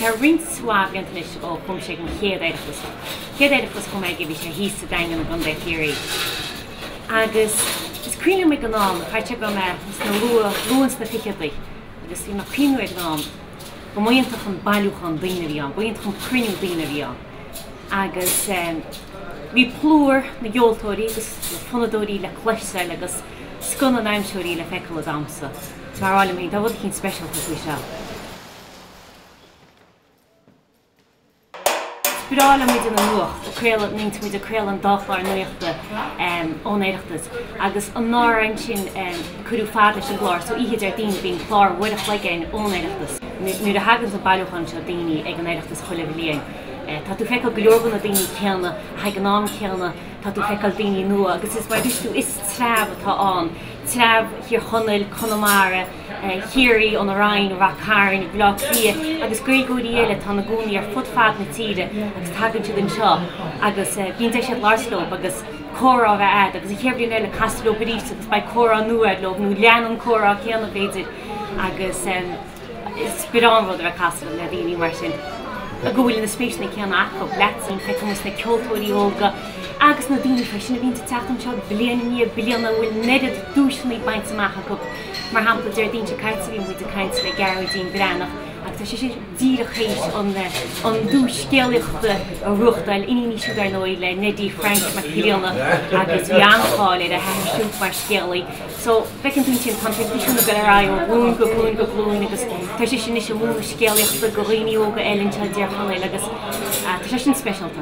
Tá roinnt mhaith blianta anois ó chuaigh mise ag an gcéad Oireachtas. Chéad Oireachtas a chuaigh mé aige bhí sé thíos sa Daingean i gContae Chiarraí. Agus is cuimhin liom ag an am, chaithfeadh go raibh mé sna luath luath sna ficheadaí agus bhí mé ag cuimhniú ag an am go mba iontach an bailiúchán daoine a bhí ann, ba iontach an cruinniú daoine a bhí ann. Agus bhí plúr na gceoltóirí agus na fonnadóirí le cloisteáil agus. Scoth na ndamhsóirí le feiceáil ag damhsa. Ag rá liom féin, tá rud eicínt speisialta faoi seo. Is breá liom muid ina nuacht a craoladh, nuair a bhíonn muid ag craoladh an dá chlár nuachta ón Oireachtas agus anuraidh ansin cuireadh fad leis an gclár so oíche Déardaoin bíonn clár uair a chloig again ón Oireachtas. Nuair a thaganns an bailiúchán seo daoine ag an Oireachtas chuile bhliain tá tú ag feiceáil go leor de na daoine céanna ach ag an am céanna, Tá tú ag feiceáil daoine nua agus is mar a dúirt tú, is treabh atá ann, treabh Thír Chonaill, Conamara, Chiarraí, An Rinn, Rath Cairn, Bhaile Átha Cliath agus Gaeilgeoirí eile atá ina gcónaí ar fud fad na tíre agus tagann siad anseo agus bíonn deis agat labhairt leo agus comhrá a bheith agat agus an chéad bhliain eile casfaidh tú leo arís agus beidh comhrá nua agat leo nó leanfaidh an comhrá céanna b'fhéidir agus. Is breá an rud a bheith ag casadh le daoine mar sin go bhfuil na spéiseanna céanna acu leatsa. Feiceann muid na ceoltóirí óga agus na daoine freisin a bhíonn ag teacht anseo bliain i ndiaidh bliana a bhfuil an oiread duaiseanna bainte amach acu. Mar shampla, Déardaoin seo caite bhí muid ag caint le Gearóidín Breathnach agus tá sise díreach théis an duais scéalaíochta a bhuachtáil, iníon í siúd ar ndóigh le Neidí Frainc Mac Grianna agus bhí an-cháil ar a hathair siúd mar scéalaí. so feiceann tú ansin tá an traidisiún ag dul ar aghaidh ó ghlúin go glúin go glúin agus tá sise anois ag múineadh scéalaíochta go dhaoine óga eile anseo i dTír Chonaill agus tá sé sin speisialta.